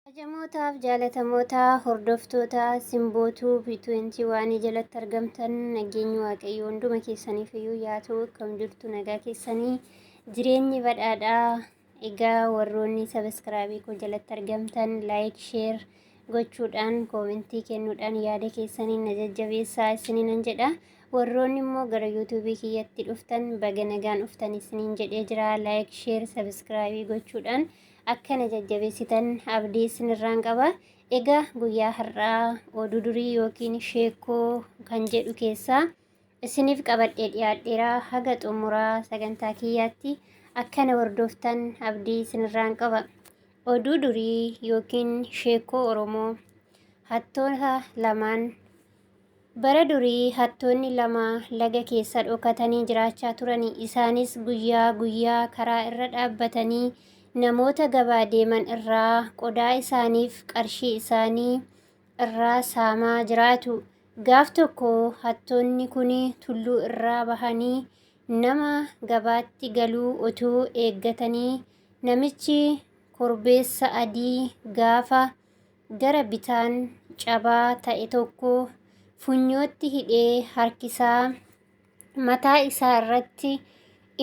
Kabajamootaaf jaalatamootaa hordoftoota Simbootuu B20 waanii jalatti argamtan nageenyi waaqayyoo hunduma keessaniif iyyuu yaa ta'u akkam jirtu nagaa keessanii jireenyi badhaadhaa egaa warroonni sabiskiraabii koo jalatti argamtan laayik sheer gochuudhaan koomentii kennuudhaan yaada keessaniin na jajjabeessaa isininan jedha warroonni immoo gara yuutuubii kiyyatti dhuftan baga nagaan dhuftan isiniin jedhee jira laayik sheer sabiskiraabii gochuudhaan akka na jajjabeessitan abdii isinirraan qaba. Egaa guyyaa har'aa oduu durii yookiin sheekkoo kan jedhu keessaa isiniif qabadhee dhiyaadheera haga xumuraa sagantaa kiyyaatti akka na hordoftan abdii isinirraan qaba. Oduu durii yookiin sheekkoo Oromoo hattoota lamaan Bara durii hattoonni lama laga keessa dhokatanii jiraachaa turani. Isaanis guyyaa guyyaa karaa irra dhaabbatanii namoota gabaa deeman irraa qodaa isaaniif qarshii isaanii irraa saamaa jiraatu. Gaaf tokko hattoonni kun tulluu irraa bahanii nama gabaatti galuu otuu eeggatanii namichi korbeessa adii gaafa gara bitaan cabaa ta'e tokko funyootti hidhee harkisaa, mataa isaa irratti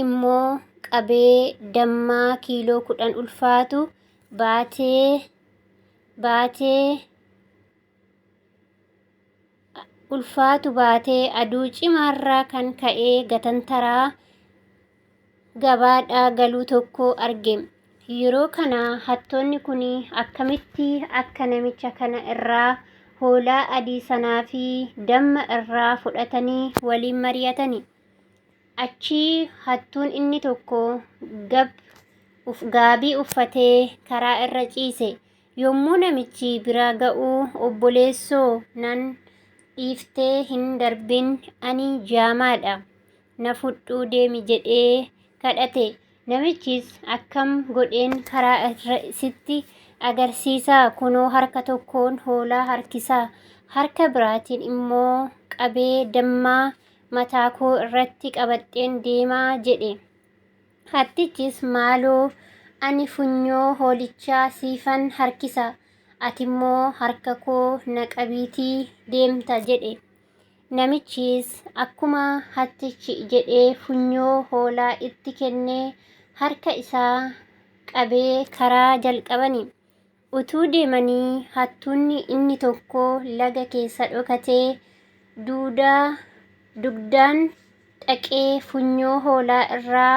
immoo qabee dammaa kiiloo kudhan ulfaatu baatee baatee ulfaatu baatee aduu cimaarraa kan ka'ee gatantaraa gabaadhaa galuu tokko arge. Yeroo kana hattoonni kun akkamitti akka namicha kana irraa hoolaa adii sanaa fi damma irraa fudhatanii waliin mari'atani. Achii hattuun inni tokko gab uf gaabii uffatee karaa irra ciise. Yommuu namichi bira ga'u obboleessoo nan dhiiftee hin darbin ani jaamaadha. na fudhuu deemi jedhee kadhate. Namichis akkam godheen karaa irra sitti agarsiisaa kunoo harka tokkoon hoolaa harkisaa harka biraatiin immoo qabee dammaa mataa koo irratti qabadheen deemaa jedhe. Hattichis maaloo ani funyoo hoolichaa siifan harkisa atimmoo harka koo na qabiitii deemta jedhe. Namichis akkuma hattichi jedhe funyoo hoolaa itti kennee harka isaa qabee karaa jalqabani. Utuu deemanii hattuunni inni tokko laga keessa dhokatee duudaa dugdaan dhaqee funyoo hoolaa irraa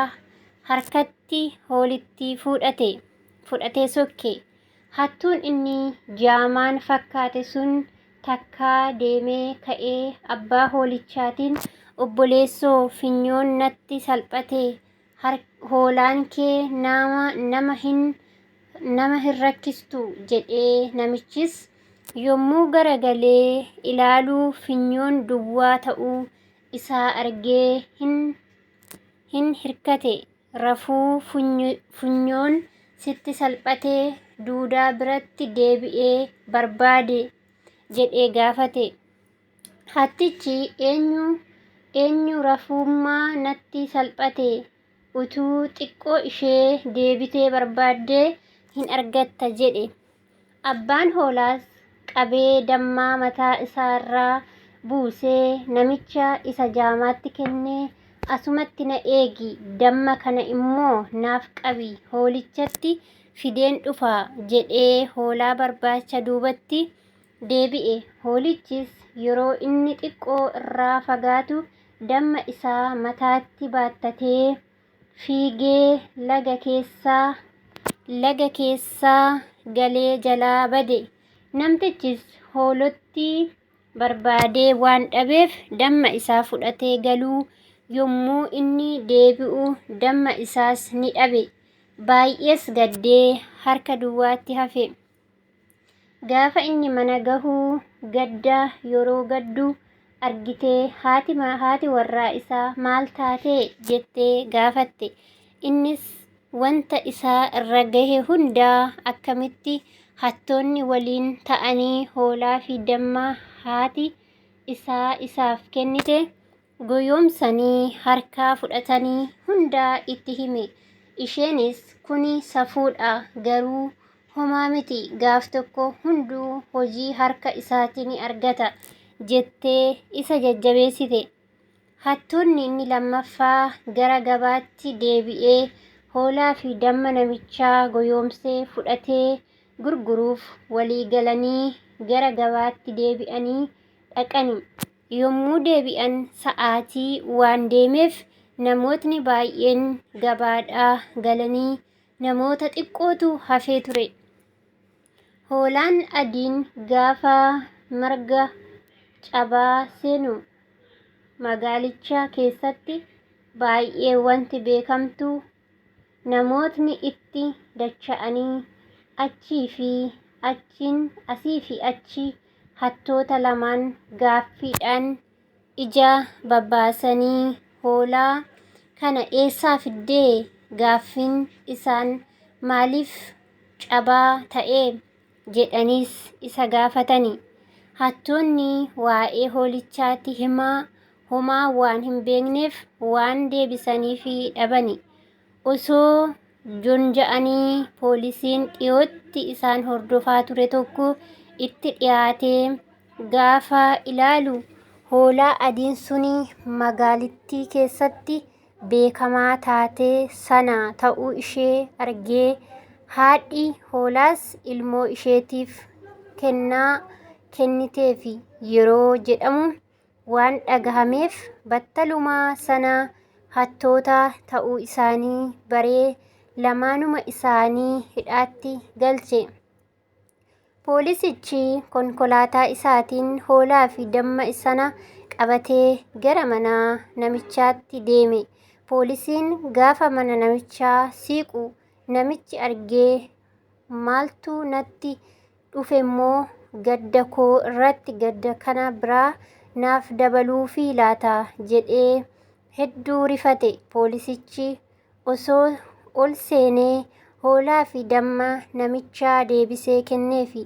harkatti hoolittii fuudhate fudhatee sokke. Hattuun inni jaamaan fakkaate sun takkaa deemee ka'ee abbaa hoolichaatiin, Obboleessoo, finyoon natti salphate, hoolaan kee nama hin nama hin rakkistu jedhee namichis yommuu garagalee ilaalu finyoon duwwaa ta'uu isaa argee hin hin hirkate. Rafuu funyoon sitti salphatee duudaa biratti deebi'ee barbaade jedhee gaafate. Hattichi eenyu eenyu rafuummaa natti salphate utuu xiqqoo ishee deebitee barbaaddee hin argatta jedhe. Abbaan hoolaas qabee dammaa mataa isaa irraa buusee namicha isa jaamaatti kennee, Asumatti na eegi, damma kana immoo naaf qabi, hoolichatti fideen dhufa jedhee hoolaa barbaacha duubatti deebi'e. Hoolichis yeroo inni xiqqoo irraa fagaatu damma isaa mataatti baattatee, fiigee laga keessaa laga keessaa galee jalaa bade. Namtichis hoolottii barbaadee waan dhabeef damma isaa fudhatee galuu yommuu inni deebi'u damma isaas ni dhabe. Baay'ees gaddee harka duwwaatti hafe. Gaafa inni mana gahu gadda yeroo gaddu argitee haati ma- haati warraa isaa maal taatee jettee gaafatte. Innis wanta isaa irra gahe hundaa akkamitti hattoonni waliin ta'anii hoolaa fi damma haati isaa isaaf kennite goyoomsanii harkaa fudhatanii hundaa itti hime. Isheenis kuni safuudha garuu homaa miti gaaf tokko hunduu hojii harka isaati ni argata jettee isa jajjabeessite. Hattuunni inni lammaffaa gara gabaatti deebi'ee hoolaa fi damma namichaa goyoomsee fudhatee gurguruuf walii galanii gara gabaatti deebi'anii dhaqani. Yommuu deebi'an sa'aatii waan deemeef namootni baay'een gabaadhaa galanii namoota xiqqootu hafee ture. Hoolaan adiin gaafa marga cabaa seenu magaalicha keessatti baay'ee wanti beekamtu Namootni itti dacha'anii achii fi achiin asii fi achi hattoota lamaan gaaffiidhaan ija babbaasanii hoolaa kana eessaa fiddee gaaffiin isaan maaliif cabaa ta'ee jedhaniis isa gaafatani. Hattoonni waa'ee hoolichaati himaa homaa waan hin beekneef waan deebisaniifi dhabani. Osoo jonja'anii poolisiin dhiyootti isaan hordofaa ture tokko itti dhiyaatee gaafa ilaalu hoolaa adiin suni magaalittii keessatti beekamaa taate sana ta'uu ishee argee, haadhi hoolaas ilmoo isheetiif kennaa kenniteefi yeroo jedhamu waan dhagahameef battaluma sana hattoota ta'uu isaanii baree lamaanuma isaanii hidhaatti galche. Poolisichi konkolaataa isaatiin hoolaa fi damma sana qabatee gara mana namichaatti deeme. Poolisiin gaafa mana namichaa siiqu namichi argee maaltu natti dhufemmoo gadda koo irratti gadda kana biraa naaf dabaluufii laata jedhee hedduu rifate. Poolisichi osoo ol seenee hoolaa fi damma namichaa deebisee kenneefi.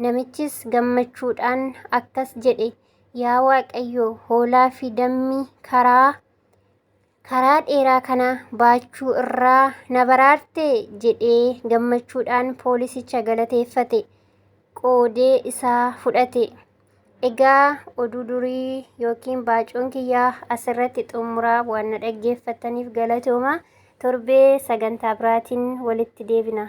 Namichis gammachuudhaan akkas jedhe, Yaa Waaqayyo, hoolaa fi dammi karaa karaa dheeraa kana baachuu irraa na baraarte jedhee gammachuudhaan poolisicha galateeffate. Qoodee isaa fudhate. Egaa oduu durii yookiin baacuun kiyyaa asirratti xumuraa waan na dhaggeeffattaniif galatooma. Torbee sagantaa biraatiin walitti deebina.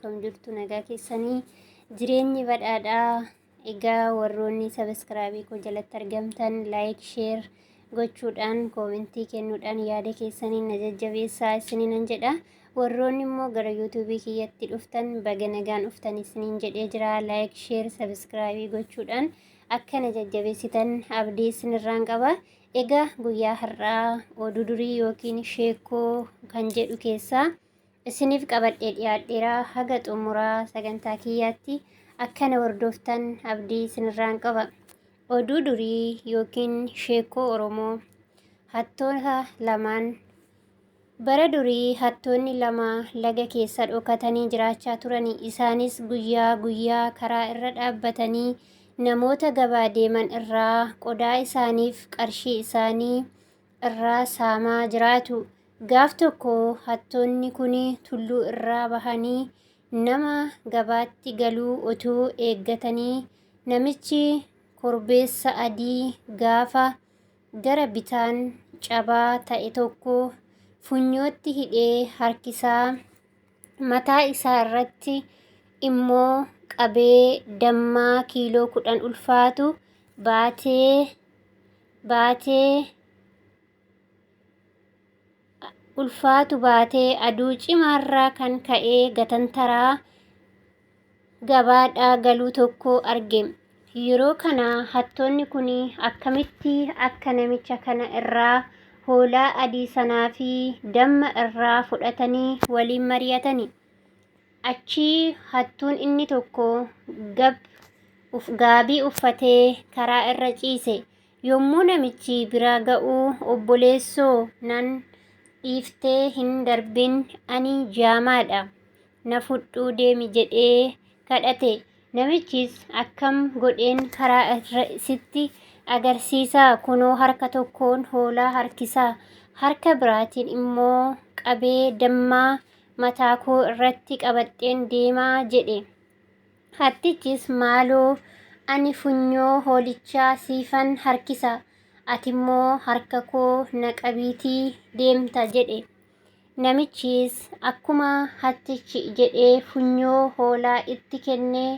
akkam jirtu nagaa keessanii jireenyi badhaadhaa egaa warroonni sabiskiraabii koo jalatti argamtan laayik sheer gochuudhaan koomentii kennuudhaan yaada keessaniin na jajjabeessaa isiniin jedha warroonni immoo gara yuutuubii kiyyatti dhuftan baga nagaan dhuftan isiniin jedhee jira laayik sheer sabiskiraabii gochuudhaan akka na jajjabeessitan abdii isinirraan qaba egaa guyyaa har'aa oduu durii yookiin sheekoo kan jedhu keessaa isiniif qabadhee dhiyaadheera haga xumuraa sagantaa kiyyaatti akkana hordoftan abdii isinirraan qaba oduu durii yookiin sheekoo oromoo hattoota lamaan bara durii hattoonni lama laga keessa dhokatanii jiraachaa turan isaanis guyyaa guyyaa karaa irra dhaabbatanii namoota gabaa deeman irraa qodaa isaaniif qarshii isaanii irraa saamaa jiraatu. Gaaf tokko hattoonni kun tulluu irraa bahanii nama gabaatti galuu otuu eeggatanii namichi korbeessa adii gaafa gara bitaan cabaa ta'e tokko funyootti hidhee harkisaa mataa isaa irratti immoo qabee dammaa kiiloo kudhan ulfaatu baatee baatee ulfaatu baatee aduu cimaarraa kan ka'ee gatantaraa gabaadhaa galuu tokko arge. Yeroo kana hattoonni kun akkamitti akka namicha kana irraa hoolaa adii sanaa fi damma irraa fudhatanii waliin mari'atani. Achii hattuun inni tokko gab uf gaabii uffatee karaa irra ciise. Yommuu namichi bira ga'u obboleessoo nan dhiiftee hin darbin ani jaamaadha na fudhuu deemi jedhee kadhate. Namichis akkam godheen karaa irra sitti agarsiisaa kunoo harka tokkoon hoolaa harkisaa harka biraatiin immoo qabee dammaa mataa koo irratti qabadheen deema jedhe. Hattichis maaloo ani funyoo hoolichaa siifan harkisa, ati immoo harka koo na qabiitii deemta jedhe. Namichis akkuma hattichi jedhe funyoo hoolaa itti kennee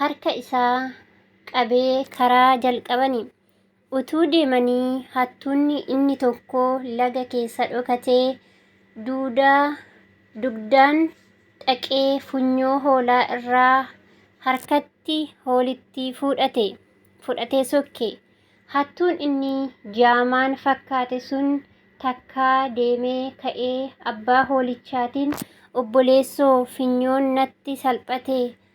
harka isaa qabee karaa jalqabani. Utuu deemanii hattuunni inni tokko laga keessa dhokatee duudaa dugdaan dhaqee funyoo hoolaa irraa harkatti hoolittii fuudhate fudhatee sokke. Hattuun inni jaamaan fakkaate sun takkaa deemee ka'ee abbaa hoolichaatiin obboleessoo finyoon natti salphate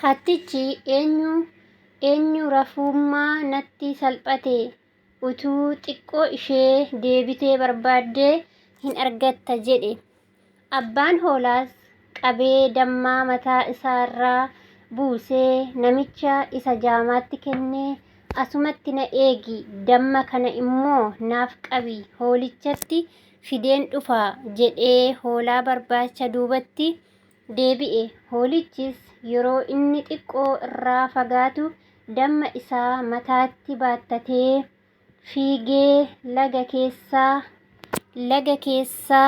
Hattichi eenyu eenyu rafuummaa natti salphate utuu xiqqoo ishee deebitee barbaaddee hin argatta jedhe. Abbaan hoolaas qabee dammaa mataa isaarraa buusee namicha isa jaamaatti kennee asumatti na eegi damma kana immoo naaf qabi hoolichatti fideen dhufa jedhee hoolaa barbaacha duubatti deebi'e. Hoolichis yeroo inni xiqqoo irraa fagaatu damma isaa mataatti baattatee fiigee laga keessa laga keessa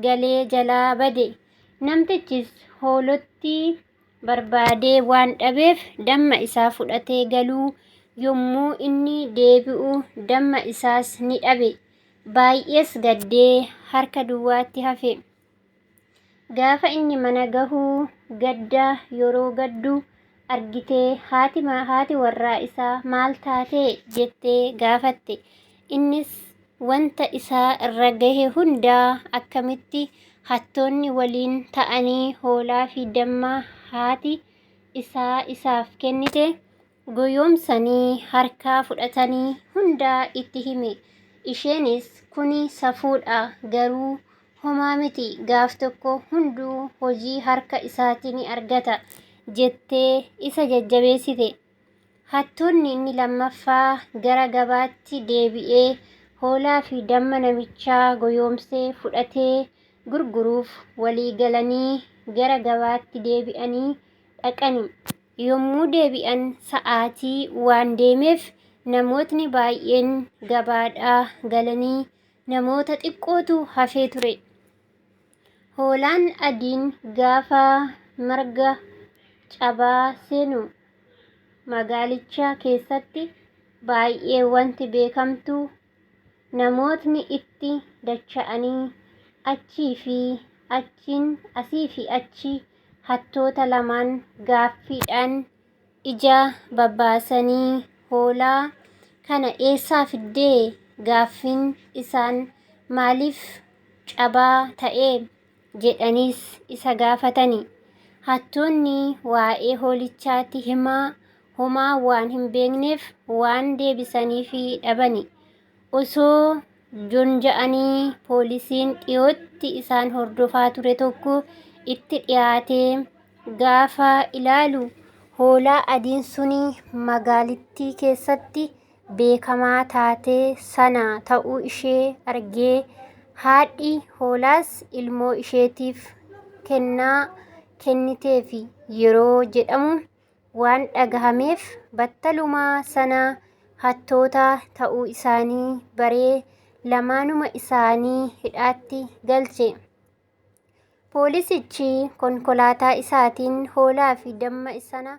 galee jalaa bade. Namtichis hoolotti barbaadee waan dhabeef damma isaa fudhatee galuu yommuu inni deebi'u damma isaas ni dhabe. Baay'ees gaddee harka duwwaatti hafe. Gaafa inni mana gahu gadda yeroo gaddu argitee haati ma- haati warraa isaa maal taatee jettee gaafatte. Innis wanta isaa irra gahe hundaa akkamitti hattoonni waliin ta'anii hoolaa fi damma haati isaa isaaf kennite goyoomsanii harkaa fudhatanii hundaa itti hime. Isheenis kuni safuudha garuu homaa miti gaaf tokko hunduu hojii harka isaati ni argata jettee isa jajjabeessite. Hattoonni inni lammaffaa gara gabaatti deebi'ee hoolaa fi damma namichaa goyoomsee fudhatee gurguruuf walii galanii gara gabaatti deebi'anii dhaqani. Yommuu deebi'an sa'aatii waan deemeef namootni baay'een gabaadhaa galanii namoota xiqqootu hafee ture. Hoolaan adiin gaafa marga cabaa seenu magaalicha keessatti baay'ee wanti beekamtu Namootni itti dacha'anii achii fi achiin asii fi achi hattoota lamaan gaaffiidhaan ija babaasanii hoolaa kana eessaa fiddee gaaffiin isaan maaliif cabaa ta'ee jedhaniis isa gaafatani. Hattoonni waa'ee hoolichaati himaa homaa waan hin beekneef waan deebisaniifi dhabani. Osoo jonja'anii poolisiin dhiyootti isaan hordofaa ture tokko itti dhiyaatee gaafa ilaalu hoolaa adiin suni magaalittii keessatti beekamaa taate sana ta'uu ishee argee haadhi hoolaas ilmoo isheetiif kennaa kenniteefi yeroo jedhamu waan dhagahameef battalumaa sana hattoota ta'uu isaanii baree lamaanuma isaanii hidhaatti galche. Poolisichi konkolaataa isaatiin hoolaa fi damma sana